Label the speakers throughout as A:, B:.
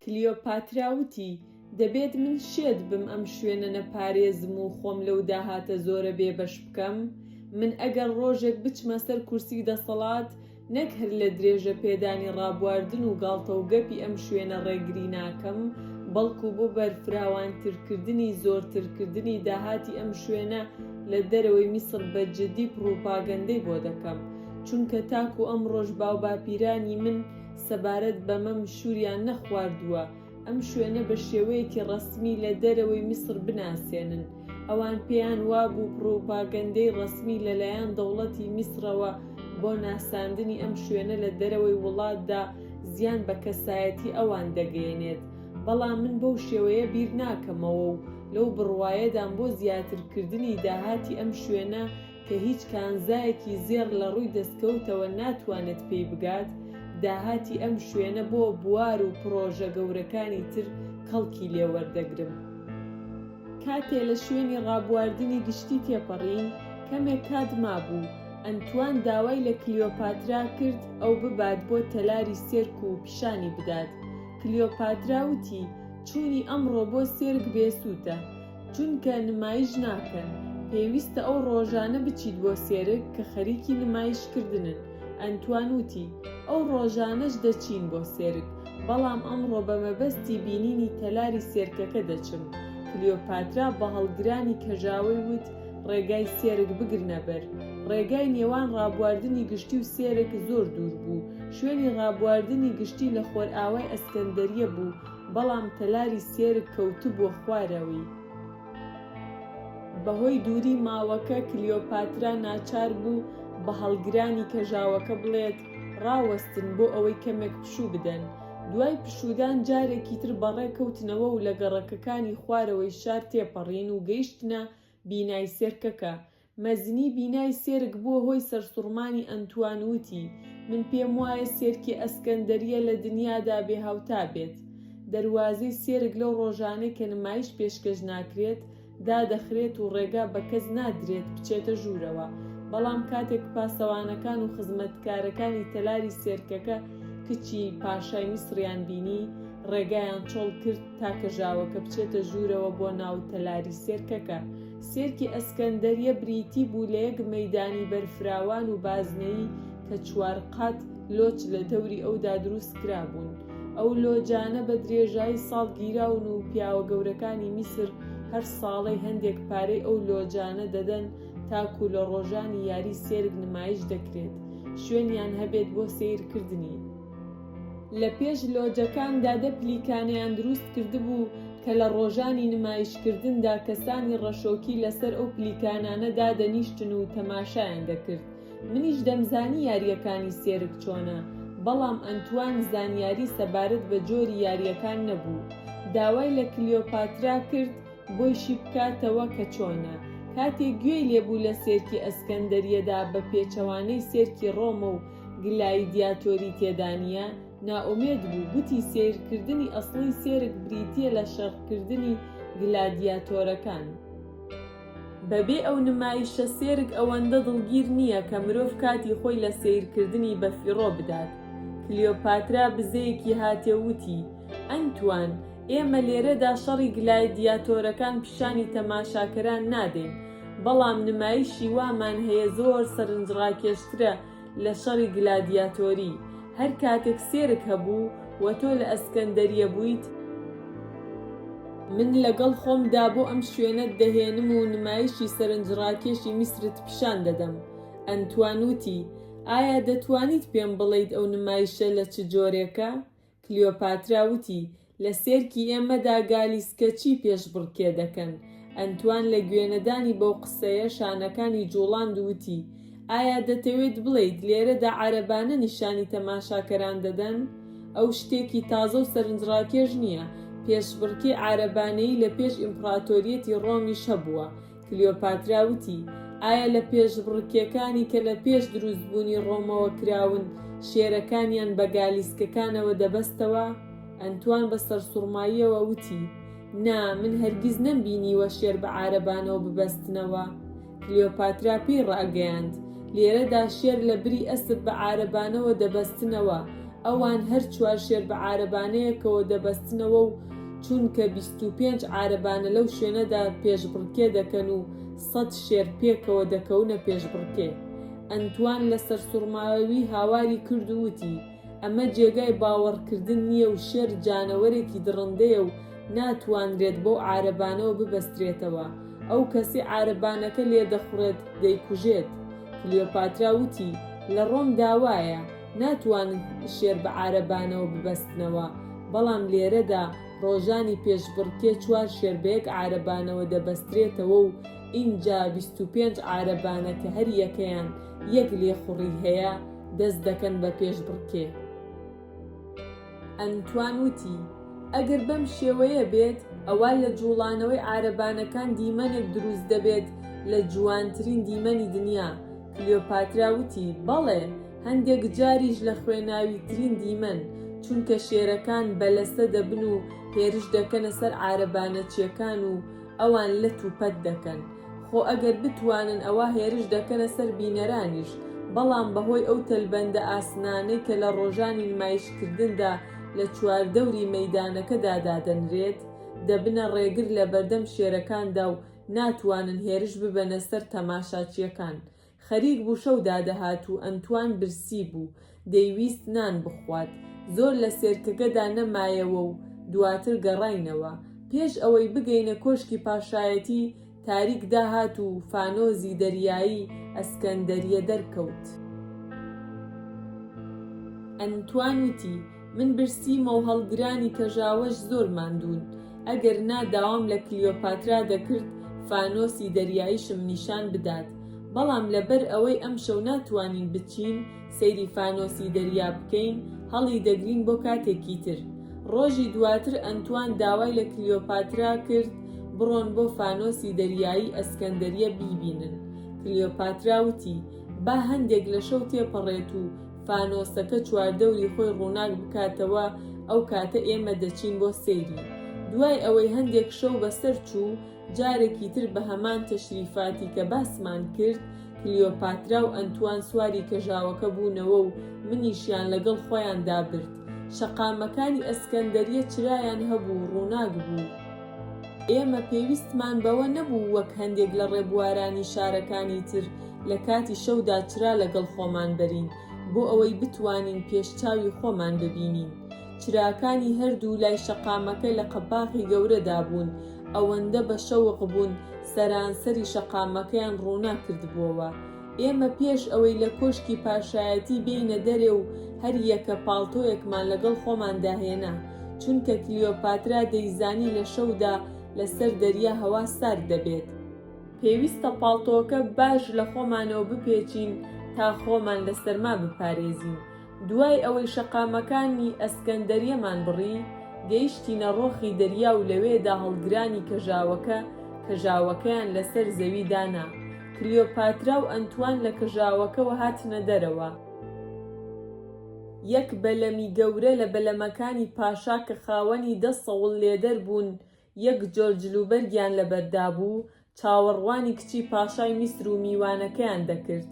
A: کلیۆپاترا وتی، دەبێت من شێت بم ئەم شوێنە نەپارێزم و خۆم لەو داهاتە زۆرە بێبەش بکەم؟ من ئەگەر ڕۆژێک بچمە سەر کورسی دەسەڵات، نەک هەر لە درێژەپێدانی ڕابواردن و گاڵتەوگەپی ئەم شوێنە ڕێگری ناکەم، بەڵکو بۆ بەرفراوانترکردنی زۆرترکردنی داهاتی ئەم شوێنە، لە دەرەوەی میسر بە جدی پڕوپاگەندەی بۆ دەکەم چونکە تاکو ئەمڕۆش باوباپیرانی من سەبارەت بەمەم شوریان نەخواردووە ئەم شوێنە بە شێوەیەکی ڕەسمی لە دەرەوەی میسر بناسێنن ئەوان پێیان وابوو پڕوپاگەندەی ڕەسمی لەلایەن دەوڵەتی میسرەوە بۆ ناساندنی ئەم شوێنە لە دەرەوەی وڵاتدا زیان بە کەسایەتی ئەوان دەگەیەنێت بەڵام من بەو شێوەیە بیر ناکەمەوە و لەو بڕوایەدام بۆ زیاترکردنی داهاتی ئەم شوێنە کە هیچ کانزایەکی زێڕ لە ڕووی دەستکەوتەوە ناتوانێت پێی بگات، داهاتی ئەم شوێنە بۆ بوار و پڕۆژە گەورەکانی تر کەڵکی لێ وەردەگرم. کاتێ لە شوێنی ڕابواردنی گشتی تێپەڕین، کەمێک کات مابوو، ئەنتوان داوای لە کلیۆپاترا کرد ئەو ببات بۆ تەلاری سێرک و پیشانی بدات، کلیۆپاترا وتی، چوونی ئەمڕۆ بۆ سیرک بێسوودە، چونکە نمایش ناکەن، پێویستە ئەو ڕۆژانە بچیت بۆ سیرک کە خەریکی نمایشکردنن، ئەنتوان وتی، ئەو ڕۆژانەش دەچین بۆ سیرک، بەڵام ئەمڕۆ بە مەبەستی بینینی تەلاری سیرکەکە دەچم. کلیۆپاترا بە هەڵگرانی کەژاوەی وت، ڕێگای سیرک بگرنە بەر. ڕێگای نێوان ڕابواردنی گشتی و سیرک زۆر دوور بوو، شوێنی ڕابواردنی گشتی لە خۆرئاوای ئەسکەندەرییە بوو، بەڵام تەلاری سێرگ کەوتبووە خوارەوەی. بەهۆی دووری ماوەکە کلیۆپاترا ناچار بوو بە هەڵگرانی کەژاوەکە بڵێت، ڕاوەستن بۆ ئەوەی کەمێک پشوو بدەن. دوای پشوودان جارێکی تر بەڕێ کەوتنەوە و لە گەڕەکەکانی خوارەوەی شار تێپەڕین و گەیشتنە بینای سێرکەکە، مەزنی بینای سێرک بووە هۆی سەرسوڕمانی ئەنتوان وتی، من پێم وایە سێرکی ئەسکەندەرییە لە دنیادا بێ هاوتا بێت. دەروازەی سێرک لەو ڕۆژانەی کە نمایش پێشکەش ناکرێت، دادەخرێت و ڕێگا بە کەس نادرێت بچێتە ژوورەوە، بەڵام کاتێک پاسەوانەکان و خزمەتکارەکانی تەلاری سێرکەکە کچی پاشای میسڕیان بینی، ڕێگایان چۆڵ کرد تا کەژاوەکە بچێتە ژوورەوە بۆ ناو تەلاری سێرکەکە. سیرکی ئەسکەندەریە بریتی بوو لە یەک مەیدانی بەرفراوان و بازنەیی کە چوار قات لۆچ لە دەوری ئەودا دروست کرابوون. ئەو لۆجانە بە درێژایی ساڵ گیراون و پیاوە گەورەکانی میسر هەر ساڵەی هەندێک پارەی ئەو لۆجانە دەدەن تاکوو لە ڕۆژانی یاری سێرک نمایش دەکرێت شوێنیان هەبێت بۆ سەیرکردنی. لە پێش لۆجەکاندا دە پلیکانەیان دروست کردبوو کە لە ڕۆژانی نمایشکردندا کەسانی ڕەشۆکی لەسەر ئەو پلیکانانە دادەنیشتن و تەماشایان دەکرد. منیش دەمزانی یارییەکانی سێرک چۆنە، بەڵام ئەنتوان زانیاری سەبارەت بە جۆری یارییەکان نەبوو. داوای لە کلیۆپاترا کرد بۆی شی بکاتەوە کە چۆنە. کاتێک گوێی لێ بوو لە سێرکی ئەسکەندەرییەدا بە پێچەوانەی سێرکی ڕۆمە و گلایدیاتۆری تێدا نییە، نائومێد بوو، گوتی سەیرکردنی ئەسڵی سێرک بریتییە لە شەڕکردنی گلادیاتۆرەکان. بەبێ ئەو نمایشە سێرک ئەوەندە دڵگیر نییە کە مرۆڤ کاتی خۆی لە سەیرکردنی بەفیڕۆ بدات. کلیۆپاترا بزەیەکی هاتێ وتی، ئەنتوان، ئێمە لێرەدا شەڕی گلایدیاتۆرەکان پیشانی تەماشاکەران نادەین، بەڵام نمایشی وامان هەیە زۆر سەرنجڕاکێشترە لە شەڕی گلادیاتۆری، هەر کاتێک سێرک هەبوو و تۆ لە ئەسکەندەریە بوویت، من لەگەڵ خۆمدا بۆ ئەم شوێنەت دەهێنم و نمایشی سەرنجڕاکێشی میسرت پیشان دەدەم. ئەنتوان وتی، ئایا دەتوانیت پێم بڵێیت ئەو نمایشە لە چ جۆرێکە؟ کلیۆپاترا وتی، لە سێرکی ئێمەدا گالی سکەچی پێشبڕکێ دەکەن. ئەنتوان لە گوێنەدانی بەو قسەیە شانەکانی جووڵاند و وتی، ئایا دەتەوێت بڵێیت لێرەدا عەرەبانە نیشانی تەماشاکەران دەدەن؟ ئەو شتێکی تازە و سەرنجڕاکێش نییە، پێشبڕکێی عارەبانەیی لە پێش ئیمپڕاتۆریەتی ڕۆمیش هەبووە، کلیۆپاترا وتی، ئایا لە پێشبڕکێکانی کە لە پێش دروستبوونی ڕۆمەوە کراون، شێرەکانیان بە گالیسکەکانەوە دەبەستەوە؟ ئەنتوان بە سەرسوڕماییەوە وتی، نا، من هەرگیز نەمبینیوە شێر بە عارەبانەوە ببەستنەوە. کلیۆپاترا پێی ڕاگەیاند، لێرەدا شێر لە بری ئەسپ بە عارەبانەوە دەبەستنەوە، ئەوان هەر چوار شێر بە عارەبانەیەکەوە دەبەستنەوە و چونکە بیست و پێنج عارەبانە لەو شوێنەدا پێشبڕکێ دەکەن و سەد شێر پێکەوە دەکەونە پێشبڕکێ. ئەنتوان لە سەرسوڕماوی هاواری کرد و وتی، ئەمە جێگای باوەڕکردن نییە و شێر جانەوەرێکی دڕندەیە و ناتوانرێت بەو عارەبانەوە ببەسترێتەوە، ئەو کەسەی عارەبانەکە لێدەخوڕێت دەیکوژێت. کلیۆپاترا وتی، لە ڕۆمدا وایە. ناتوانن شێر بە عارەبانەوە ببەستنەوە، بەڵام لێرەدا ڕۆژانی پێشبڕکێ چوار شێر بە یەک عارەبانەوە دەبەسترێتەوە و ئینجا بیست و پێنج عارەبانە کە هەر یەکەیان یەک لێخوڕی هەیە، دەست دەکەن بە پێشبڕکێ. ئەنتوان وتی، ئەگەر بەم شێوەیە بێت، ئەوا لە جووڵانەوەی عارەبانەکان دیمەنێک دروست دەبێت لە جوانترین دیمەنی دنیا، کلیۆپاترا وتی، بەڵێ، هەندێک جاریش لە خوێناویترین دیمەن، چونکە شێرەکان بە لەسە دەبن و هێرش دەکەنە سەر عارەبانەچییەکان و ئەوان لەت و پەت دەکەن. خۆ ئەگەر بتوانن ئەوا هێرش دەکەنە سەر بینەرانیش، بەڵام بەهۆی ئەو تەلبەندە ئاسنانەی کە لە ڕۆژانی نمایشکردندا لە چواردەوری مەیدانەکەدا دادەنرێت، دەبنە ڕێگر لەبەردەم شێرەکاندا و ناتوانن هێرش ببەنە سەر تەماشاچیەکان، خەریک بوو شەو دادەهات و ئەنتوان برسی بوو، دەیویست نان بخوات، زۆر لە سێرکەگەدا نەمایەوە و دواتر گەڕاینەوە. پێش ئەوەی بگەینە کۆشکی پاشایەتی، تاریک داهات و فانۆزی دەریایی ئەسکەندەریە دەرکەوت. ئەنتوان وتی، من برسیمەو هەڵگرانی کەژاوەش زۆر ماندوون ئەگەر نا داوام لە کلیۆپاترا دەکرد فانۆسی دەریاییشم نیشان بدات بەڵام لەبەر ئەوەی ئەمشەو ناتوانین بچین سەیری فانۆسی دەریا بکەین هەڵی دەگرین بۆ کاتێکی تر ڕۆژی دواتر ئەنتوان داوای لە کلیۆپاترا کرد بڕۆن بۆ فانۆسی دەریایی ئەسکەندەریە بیبینن کلیۆپاترا وتی با هەندێک لە شەو تێپەڕێت و فانۆسەکە چواردەوری خۆی ڕووناک بکاتەوە، ئەو کاتە ئێمە دەچین بۆ سەیری. دوای ئەوەی هەندێک شەو بەسەر چوو، جارێکی تر بە هەمان تەشریفاتی کە باسمان کرد، کلیۆپاترا و ئەنتوان سواری کەژاوەکە بوونەوە و منیشیان لەگەڵ خۆیاندا برد. شەقامەکانی ئەسکەندەریە چرایان هەبوو و ڕووناک بوو. ئێمە پێویستمان بەوە نەبوو وەک هەندێک لە ڕێبوارانی شارەکانی تر لە کاتی شەودا چرا لەگەڵ خۆمان بەرین بۆ ئەوەی بتوانین پێش چاوی خۆمان ببینین. چراکانی هەردوو لای شەقامەکە لە قەباخی گەورەدا بوون، ئەوەندە بە شەوق بوون سەرانسەری شەقامەکەیان ڕووناک کردبووەوە. ئێمە پێش ئەوەی لە کۆشکی پاشایەتی بێینە دەرێ و هەر یەکە پاڵتۆیەکمان لەگەڵ خۆماندا هێنا، چونکە کلیۆپاترا دەیزانی لە شەودا لەسەر دەریا هەوا سارد دەبێت، پێویستە پاڵتۆکە باش لە خۆمانەوە بپێچین تا خۆمان لە سەرما بپارێزین. دوای ئەوەی شەقامەکانی ئەسکەندەریەمان بڕی، گەیشتینە ڕۆخی دەریا و لەوێدا هەڵگرانی کەژاوەکە کەژاوەکەیان لەسەر زەوی دانا. کلیۆپاترا و ئەنتوان لە کەژاوەکەوە هاتنە دەرەوە. یەک بەلەمی گەورە لە بەلەمەکانی پاشا کە خاوەنی دە سەوڵ لێدەر بوون یەک جۆر جلوبەرگیان لەبەردابوو، چاوەڕوانی کچی پاشای میسر و میوانەکەیان دەکرد.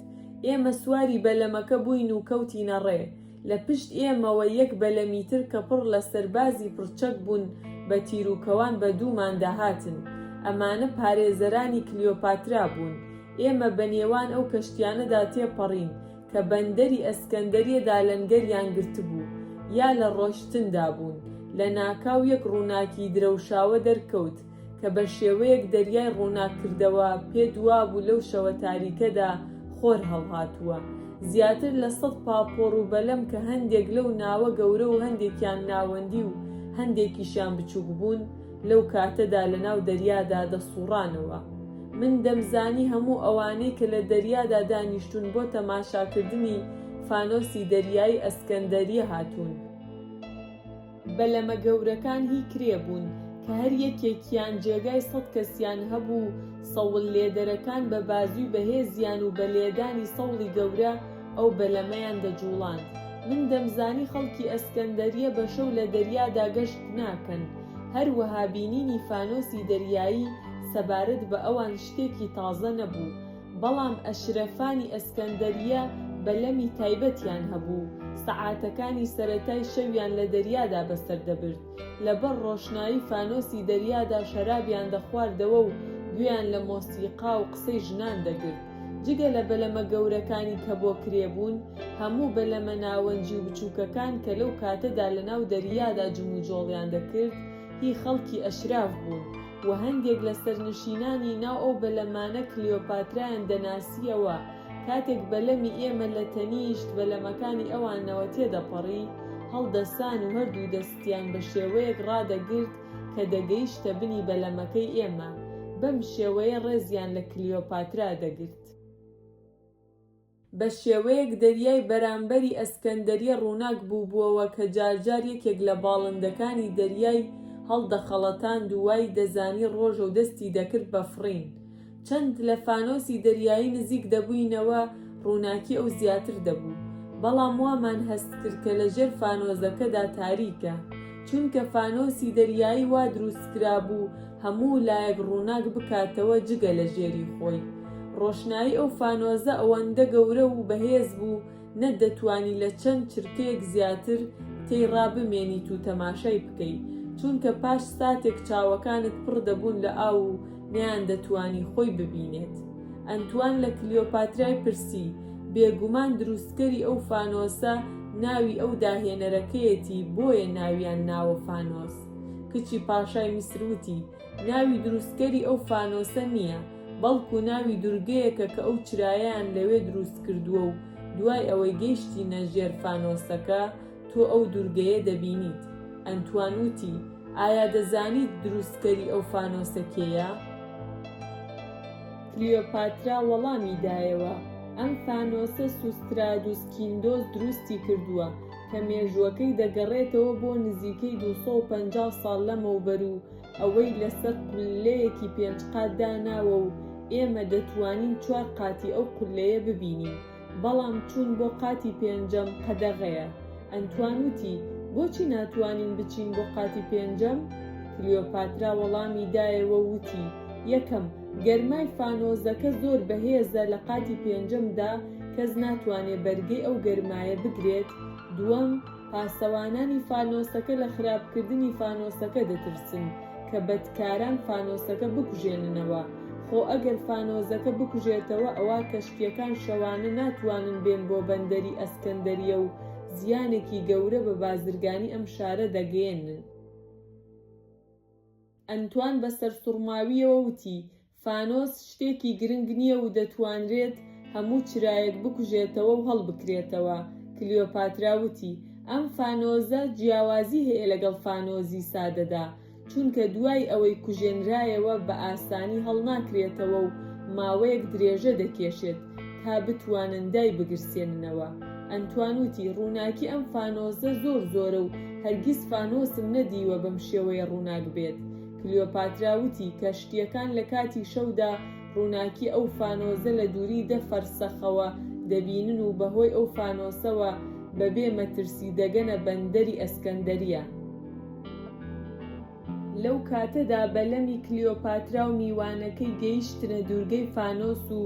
A: ئێمە سواری بەلەمەکە بووین و کەوتینە ڕێ. لە پشت ئێمەوە یەک بەلەمی تر کە پڕ لە سەربازی پڕچەک بوون بە تیروکەوان بە دووماندا هاتن. ئەمانە پارێزەرانی کلیۆپاترا بوون. ئێمە بە نێوان ئەو کەشتیانەدا تێپەڕین. کە بەندەری ئەسکەندەریە دالەنگەریان گرتبوو یا لە ڕۆشتندا بوون، لە ناکاو یەک ڕووناکی درەوشاوە دەرکەوت کە بە شێوەیەک دەریای ڕووناک کردەوە، پێ دوابوو لەو شەوە تاریکەدا خۆر هەڵهاتووە. زیاتر لە سەد پاپۆڕ و بەلەم کە هەندێک لەو ناوە گەورە و هەندێکیان ناوەندی و هەندێکیشیان بچووک بوون، لەو کاتەدا لەناو دەریادا دەسووڕانەوە. من دەمزانی هەموو ئەوانەی کە لە دەریادا دانیشتوون بۆ تەماشاکردنی فانۆسی دەریایی ئەسکەندەرییە هاتوون. بەلەمە گەورەکان هی کرێ بوون، کە هەر یەکێکیان جێگای سەد کەسیان هەبوو و سەوڵلێدەرەکان بە بازووی بەهێزیان و بە لێدانی سەوڵی گەورە ئەو بەلەمەیان دەجووڵاند. من دەمزانی خەڵکی ئەسکەندەرییە بە شەو لە دەریادا گەشت ناکەن. هەروەها بینینی فانۆسی دەریایی سەبارەت بە ئەوان شتێکی تازە نەبوو، بەڵام ئەشرەفانی ئەسکەندەرییە بەلەمی تایبەتیان هەبوو، سەعاتەکانی سەرەتای شەویان لە دەریادا بەسەر دەبرد، لەبەر ڕۆشنایی فانۆسی دەریادا شەرابیان دەخواردەوە و گوێیان لە مۆسیقا و قسەی ژنان دەگرت. جگە لە بەلەمە گەورەکانی کە بۆ کرێ بوون، هەموو بەلەمە ناوەنجی و بچووکەکان کە لەو کاتەدا لە ناو دەریادا جموجۆڵیان دەکرد، هی خەڵکی ئەشراف بوون و هەندێک لە سەرنشینانی ناو ئەو بەلەمانە کلیۆپاترایان دەناسییەوە، کاتێک بەلەمی ئێمە لە تەنیشت بەلەمەکانی ئەوانەوە تێدەپەڕی، هەڵدەسان و هەردوو دەستیان بە شێوەیەک ڕادەگرت کە دەگەیشتە بنی بەلەمەکەی ئێمە، بەم شێوەیە ڕێزیان لە کلیۆپاترا دەگرت. بە شێوەیەک دەریای بەرامبەری ئەسکەندەریە ڕووناک بووبووەوە کە جار جار یەکێک لە باڵندەکانی دەریای هەڵدەخەڵەتاند و وای دەزانی ڕۆژە و دەستی دەکرد بە فڕین. چەند لە فانۆسی دەریایی نزیک دەبووینەوە ڕووناکی ئەو زیاتر دەبوو، بەڵام وامان هەست کرد کە لە ژێر فانۆزەکەدا تاریکە، چونکە فانۆسی دەریایی وا دروست کرابوو هەموو لایەک ڕووناک بکاتەوە جگە لە ژێری خۆی، ڕۆشنایی ئەو فانۆزە ئەوەندە گەورە و بەهێز بوو، نە دەتوانی لە چەند چرکەیەک زیاتر تێی ڕابمێنیت و تەماشای بکەی چونکە پاش ساتێک چاوەکانت پڕ دەبوون لە ئاو و نەیان دەتوانی خۆی ببینێت ئەنتوان لە کلیۆپاترای پرسی بێگومان دروستکەری ئەو فانۆسە ناوی ئەو داهێنەرەکەیەتی بۆیە ناویان ناوە فانۆس کچی پاشای میسر وتی ناوی دروستکەری ئەو فانۆسە نییە، بەڵکو ناوی دورگەیەکە کە ئەو چرایەیان لەوێ دروستکردووە و دوای ئەوەی گەیشتینە ژێر فانۆسەکە، تۆ ئەو دورگەیە دەبینیت. ئەنتوان وتی، ئایا دەزانیت دروستکەری ئەو فانۆسە کێیە؟ کلیۆپاترا وەڵامی دایەوە، ئەم فانۆسە سوسترادوس کیندۆس دروستی کردووە، کە مێژووەکەی دەگەڕێتەوە بۆ نزیکەی دوو سەد و پەنجا ساڵ لەمەوبەر و ئەوەی لەسەر قوللەیەکی پێنج قات داناوە و ئێمە دەتوانین چوار قاتی ئەو قوللەیە ببینین بەڵام چوون بۆ قاتی پێنجەم قەدەغەیە ئەنتوان وتی بۆچی ناتوانین بچین بۆ قاتی پێنجەم کلیۆپاترا وەڵامی دایەوە و وتی یەکەم گەرمای فانۆزەکە زۆر بەهێزە لە قاتی پێنجەمدا کەس ناتوانێت بەرگەی ئەو گەرمایە بگرێت، دووەم، پاسەوانانی فانۆسەکە لە خراپکردنی فانۆسەکە دەترسن کە بەدکاران فانۆسەکە بکوژێننەوە، خۆ ئەگەر فانۆزەکە بکوژێتەوە ئەوا کەشتییەکان شەوانە ناتوانن بێن بۆ بەندەری ئەسکەندەریە و زیانێکی گەورە بە بازرگانی ئەم شارە دەگەیەنن. ئەنتوان بە سەرسوڕماوییەوە وتی، فانۆس شتێکی گرنگ نییە و دەتوانرێت هەموو چرایەک بکوژێتەوە و هەڵبکرێتەوە. کلیۆپاترا وتی، ئەم فانۆزە جیاوازی هەیە لەگەڵ فانۆزی سادەدا، چونکە دوای ئەوەی کوژێنرایەوە بە ئاسانی هەڵناکرێتەوە و ماوەیەک درێژە دەکێشێت تا بتوانن دایبگرسێننەوە. ئەنتوان وتی، ڕووناکی ئەم فانۆزە زۆر زۆرە و هەرگیز فانۆسم نەدیوە بەم شێوەیە ڕووناک بێت. کلیۆپاترا وتی کە شتییەکان لە کاتی شەودا ڕووناکی ئەو فانۆزە لە دووری دە فەرسەخەوە دەبینن و بەهۆی ئەو فانۆسەوە بەبێ مەترسی دەگەنە بەندەری ئەسکەندەرییە. لەو کاتەدا بەلەمی کلیۆپاترا و میوانەکەی گەیشتنە دوورگەی فانۆس و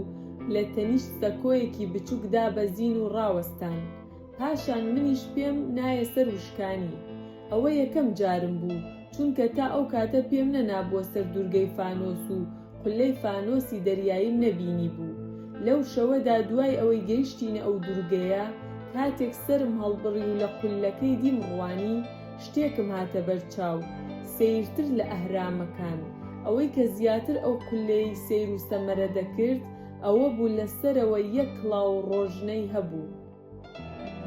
A: لە تەنیشت سەکۆیەکی بچووک دابەزین و ڕاوەستان. پاشان منیش پێم نایە سەر وشکانی. ئەوە یەکەم جارم بوو، چونکە تا ئەو کاتە پێم نەنابووە سەر دوورگەی فانۆس و قوللەی فانۆسی دەریاییم نەبینیبوو. لەو شەوەدا دوای ئەوەی گەیشتینە ئەو دوورگەیە، کاتێک سەرم هەڵبڕی و لە قوللەکەی دیم ڕوانی، شتێکم هاتە بەر چاو، سەیرتر لە ئەهرامەکان. ئەوەی کە زیاتر ئەو قوللەیەی سەیر و سەمەرە دەکرد، ئەوە بوو لە سەرەوە یەک کڵاو ڕۆژنەی هەبوو.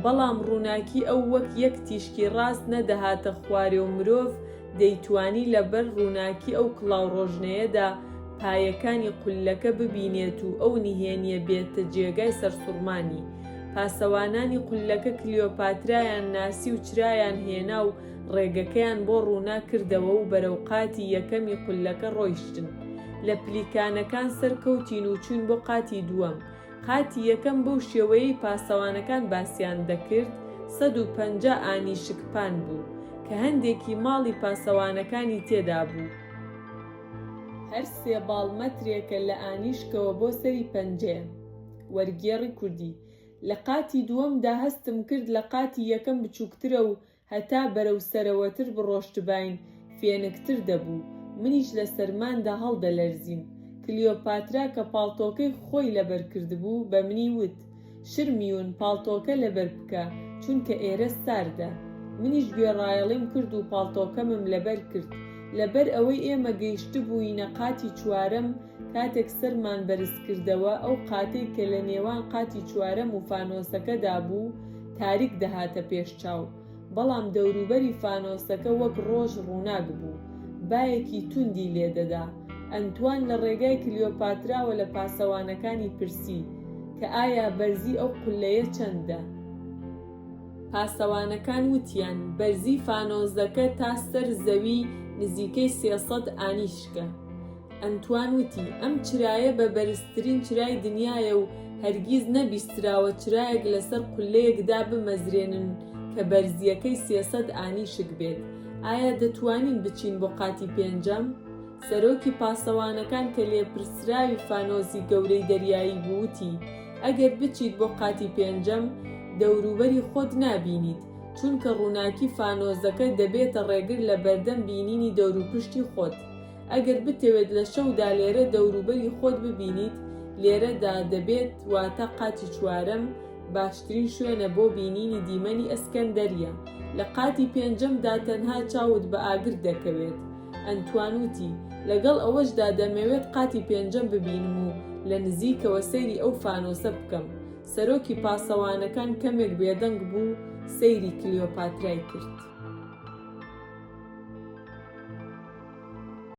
A: بەڵام ڕووناکی ئەو وەک یەک تیشکی ڕاست نەدەهاتە خوارێ و مرۆڤ دەیتوانی لە بەر ڕووناکی ئەو کڵاوڕۆژنەیەدا پایەکانی قوللەکە ببینێت و ئەو نهێنییە بێتە جێگای سەرسوڕمانی. پاسەوانانی قوللەکە کلیۆپاترایان ناسی و چرایان هێنا و ڕێگەکەیان بۆ ڕووناک کردەوە و بەرەو قاتی یەکەمی قوللەکە ڕۆیشتن. لە پلیکانەکان سەرکەوتین و چووین بۆ قاتی دووەم. قاتی یەکەم بەو شێوەیەی پاسەوانەکان باسیان دەکرد سەد و پەنجا ئانی شکپان بوو، کە هەندێکی ماڵی پاسەوانەکانی تێدا بوو. هەر سێ باڵ مەترێکە لە ئانیشکەوە بۆ سەری پەنجەیە. وەرگێڕی کوردی لە قاتی دووەمدا هەستم کرد لە قاتی یەکەم بچووکترە و هەتا بەرەو سەرەوەتر بڕۆشتباین فێنکتر دەبوو، منیش لە سەرماندا هەڵدەلەرزیم. کلیۆپاترا کە پاڵتۆکەی خۆی لەبەر کردبوو، بە منی وت، شرمیون، پاڵتۆکە لەبەر بکە، چونکە ئێرە ساردە. منیش گوێڕایەڵیم کرد و پاڵتۆکەمم لەبەر کرد. لەبەر ئەوەی ئێمە گەیشتبووینە قاتی چوارەم، کاتێک سەرمان بەرز کردەوە، ئەو قاتەی کە لە نێوان قاتی چوارەم و فانۆسەکەدا بوو، تاریک دەهاتە پێش چاو، بەڵام دەوروبەری فانۆسەکە وەک ڕۆژ ڕووناک بوو، بایەکی توندی لێ دەدا. ئەنتوان لە ڕێگای کلیۆپاتراوە لە پاسەوانەکانی پرسی، کە ئایا بەرزی ئەو قوللەیە چەندە؟ پاسەوانەکان وتیان، بەرزی فانۆسەکە تا سەر زەوی نزیکەی سێ سەد ئانیشکە. ئەنتوان وتی، ئەم چرایە بە بەرزترین چرای دنیایە و هەرگیز نەبیستراوە چرایەک لەسەر قوللەیەک دابمەزرێنن کە بەرزییەکەی سێ سەد ئانیشک بێت. ئایا دەتوانین بچین بۆ قاتی پێنجەم؟ سەرۆکی پاسەوانەکان کە لێپرسراوی فانۆسی گەورەی دەریایی بوو وتی، ئەگەر بچیت بۆ قاتی پێنجەم، دەوروبەری خۆت نابینیت، چونکە ڕووناکی فانۆسەکە دەبێتە ڕێگر لە بەردەم بینینی دەوروپشتی خۆت. ئەگەر بتەوێت لە شەودا لێرە دەوروبەری خۆت ببینیت، لێرەدا دەبێت، واتە قاتی چوارەم باشترین شوێنە بۆ بینینی دیمەنی ئەسکەندەرییە. لە قاتی پێنجەمدا تەنها چاوت بە ئاگر دەکەوێت. ئەنتوان وتی، لەگەڵ ئەوەشدا دەمەوێت قاتی پێنجەم ببینم و لە نزیکەوە سەیری ئەو فانۆسە بکەم. سەرۆکی پاسەوانەکان کەمێک بێدەنگ بوو و سەیری کلیۆپاترای کرد.